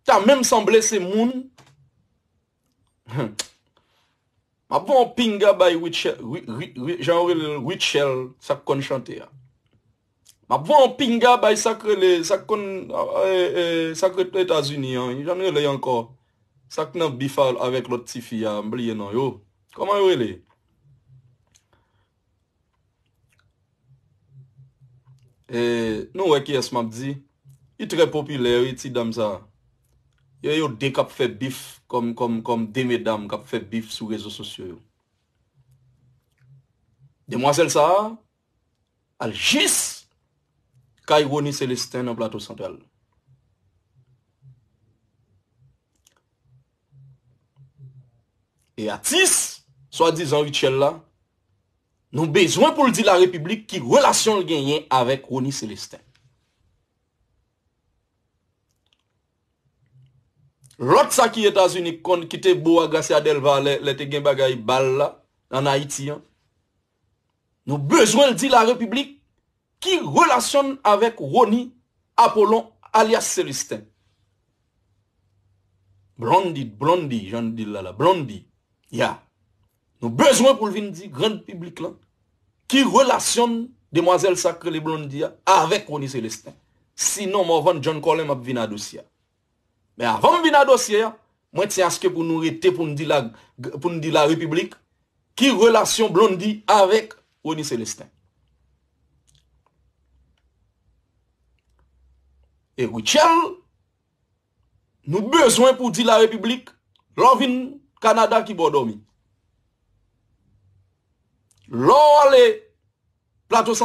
Ta menm sanble se moun Humm Map voye yon pinga bay Rutshelle Jan yo rele l Rutshelle sa k konn chante a Map voye yon pinga bay sa k rele sa k konn sa k ret etazini an jan l rele ankò sa k nan bif avèk lòt tifi a m bliye non yo Kòman yo rele Nou wè kiyès map di. Li trè popilè wi ti danm sa. E yo 2 kap fè bif kòm 2 medam kap fè bif sou rezo sosyo yo. Demwazèl sa al jis kay Rony Celestin nan Plato Santral. E atis swa dizan Rutshelle la nou bezwen pou l di la repiblik ki relasyon l genyen avèk Rony Celestin. Lòt sa ki Etazini k konn ki te bo a Gracia Delva lè te gen bagay bal la an Ayiti an. Nou bezwen l di la repiblik ki relasyon n avèk Rony Appolon alyas Celestin. Blondie, Blondy jan n di l la la, Blondy, ya. Nou bezwen pou l vin di grand piblik lan ki relasyon n, demwazèl sa k rele Blondy a, avèk Rony Celestin. Sinon Morvan John Colem ap vin adosya. Men avan m vin a dosye a, mwen tyen aske pou nou rete pou n di la repiblik ki relasyon Blondy avèk Rony Celestin. E Rutshelle, nou bezwen pou di la repiblik lè w vin Kanada ki bò w dòmi. Lè w ale Plato San.